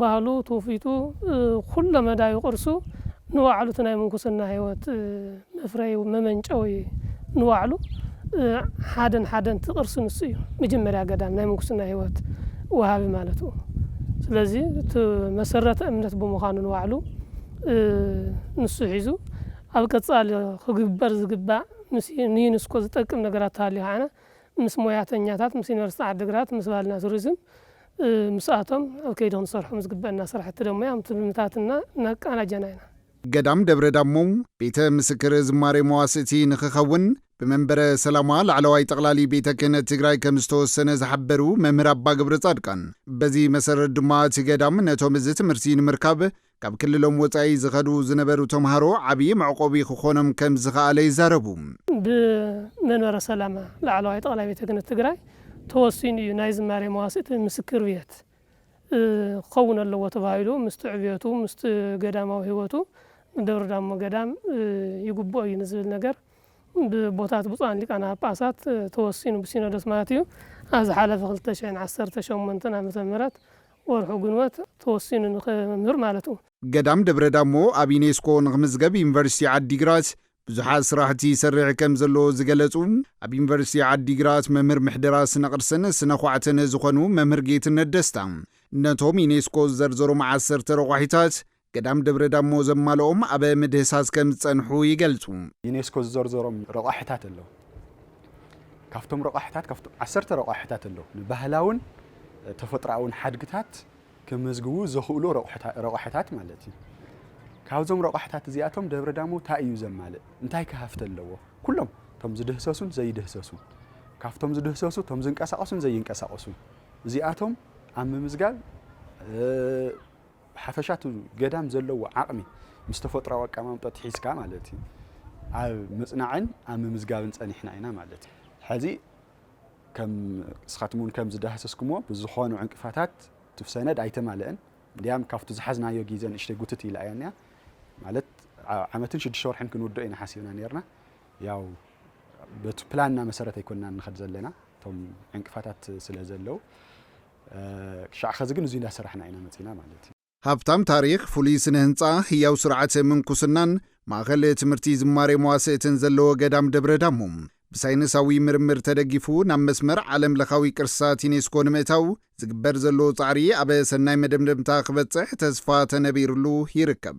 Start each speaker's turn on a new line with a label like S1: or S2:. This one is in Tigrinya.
S1: ባህሉ፣ ትውፊቱ፣ ኩለ መዳዩ ቅርሱ ንባዕሉ እቲ ናይ ምንኩስና ሕይወት መፍረዩ፣ መመንጨዊ ንባዕሉ ሓደን ሓደን እቲ ቅርሲ ንሱ እዩ። መጀመርያ ገዳም ናይ ምንኩስና ሕይወት ወሃቢ ማለትኡ። ስለዚ እቲ መሰረተ እምነት ብምዃኑ ንባዕሉ ንሱ ሒዙ ኣብ ቀጻሊ ክግበር ዝግባእ ምስ ንዩንስኮ ዝጠቅም ነገራት ተሃልዩ ከዓነ ምስ ሞያተኛታት ምስ ዩኒቨርሲቲ ዓዲግራት ምስ ባህልና ቱሪዝም ምስኣቶም ኣብ ከይዲ ክንሰርሖም ዝግበእና ስራሕቲ ደሞ ኣብ ትልምታትና እናቃናጀና ኢና። ገዳም ደብረ
S2: ዳሞ ቤተ ምስክር ዝማሬ መዋሥእቲ ንኽኸውን ብመንበረ ሰላማ ላዕለዋይ ጠቕላሊ ቤተ ክህነት ትግራይ ከም ዝተወሰነ ዝሓበሩ መምህር ኣባ ገብረጻድቃን በዚ መሰረት ድማ እቲ ገዳም ነቶም እዚ ትምህርቲ ንምርካብ ካብ ክልሎም ወፃኢ ዝኸዱ ዝነበሩ ተምሃሮ ዓብዪ መዕቆቢ ክኾኖም ከምዝኸኣለ ይዛረቡ። ብመንበረ
S1: ሰላማ ላዕለዋይ ጠቕላይ ቤተ ክህነት ትግራይ ተወሲኑ እዩ ናይ ዝማሬ መዋሥዕት ምስክር ቤት ክኸውን ኣለዎ ተባሂሉ። ምስቲ ዕብየቱ ምስቲ ገዳማዊ ሕይወቱ ንደብረ ዳሞ ገዳም ይግብኦ እዩ ንዝብል ነገር ብቦታት ብፁዓን ሊቃነ ጳጳሳት ተወሲኑ ብሲኖዶስ ማለት እዩ ኣብ ዝሓለፈ ክልተ ሽሕን ዓሰርተ ሸሞንተን ዓመተ ምህረት ወርሑ ግንቦት ተወሲኑ ንክምህር ማለቱ። ገዳም ደብረ ዳሞ
S2: ኣብ ዩኔስኮ ንክምዝገብ ዩኒቨርሲቲ ዓዲግራት ብዙሓት ስራሕቲ ይሰርሕ ከምዘሎ ዝገለፁ ኣብ ዩኒቨርሲቲ ዓዲግራት መምህር ምሕደራ ስነ ቅርስን ስነ ዃዕትን ዝኾኑ መምህር ጌትነት ደስታ ነቶም ዩኔስኮ ዝዘርዘሮም ዓሰርተ ረቋሒታት ገዳም ደብረ ዳሞ ዘማልኦም ኣብ ምድህሳስ ከም ዝጸንሑ ይገልጹ። ዩኔስኮ ዝዘርዘሮም
S3: ረቛሒታት ኣለዉ። ካብቶም ረቛሒታት ካብቶም ዓሰርተ ረቛሒታት ኣለዉ ንባህላውን ተፈጥሮኣውን ሓድግታት ከመዝግቡ ዘኽእሉ ረቛሒታት ማለት እዩ። ካብዞም ረቋሕታት እዚኣቶም ደብረ ዳሞ እንታይ እዩ ዘማልእ እንታይ ክሃፍቲ ኣለዎ ኩሎም እቶም ዝድህሰሱን ዘይድህሰሱን ካብቶም ዝድህሰሱ እቶም ዝንቀሳቐሱን ዘይንቀሳቐሱን እዚኣቶም ኣብ ምምዝጋብ ብሓፈሻ እቲ ገዳም ዘለዎ ዓቕሚ ምስ ተፈጥሮኣዊ ኣቀማምጠኡ ሒዝካ ማለት እዩ ኣብ ምፅናዕን ኣብ ምምዝጋብን ፀኒሕና ኢና ማለት እዩ። ሕዚ ከም እስኻትም እውን ከም ዝዳህሰስኩሞ ብዝኾኑ ዕንቅፋታት እቲ ሰነድ ኣይተማለአን እንዲያም ካብቲ ዝሓዝናዮ ግዜ ንእሽተይ ጉትት ኢላ እያ እኒኣ ማለት ዓመትን ሽዱሽተ ወርሕን ክንውድኦ ኢና ሓሲብና ነርና ያው በቲ ፕላንና መሰረት ኣይኮንና ንኸድ ዘለና እቶም ዕንቅፋታት ስለ ዘለው ክሻዕ ኸዚ ግን እዙይ እንዳሰራሕና ኢና መፂና ማለት እዩ። ሃብታም ታሪኽ፣
S2: ፍሉይ ስነ ህንፃ፣ ህያው ስርዓተ ምንኩስናን ማእኸል ትምህርቲ ዝማሬ መዋስእትን ዘለዎ ገዳም ደብረ ዳሞ ብሳይንሳዊ ምርምር ተደጊፉ ናብ መስመር ዓለም ለኻዊ ቅርስታት ዩኔስኮ ንምእታው ዝግበር ዘሎ ፃዕሪ ኣብ ሰናይ መደምደምታ ክበፅሕ ተስፋ ተነቢርሉ ይርከብ።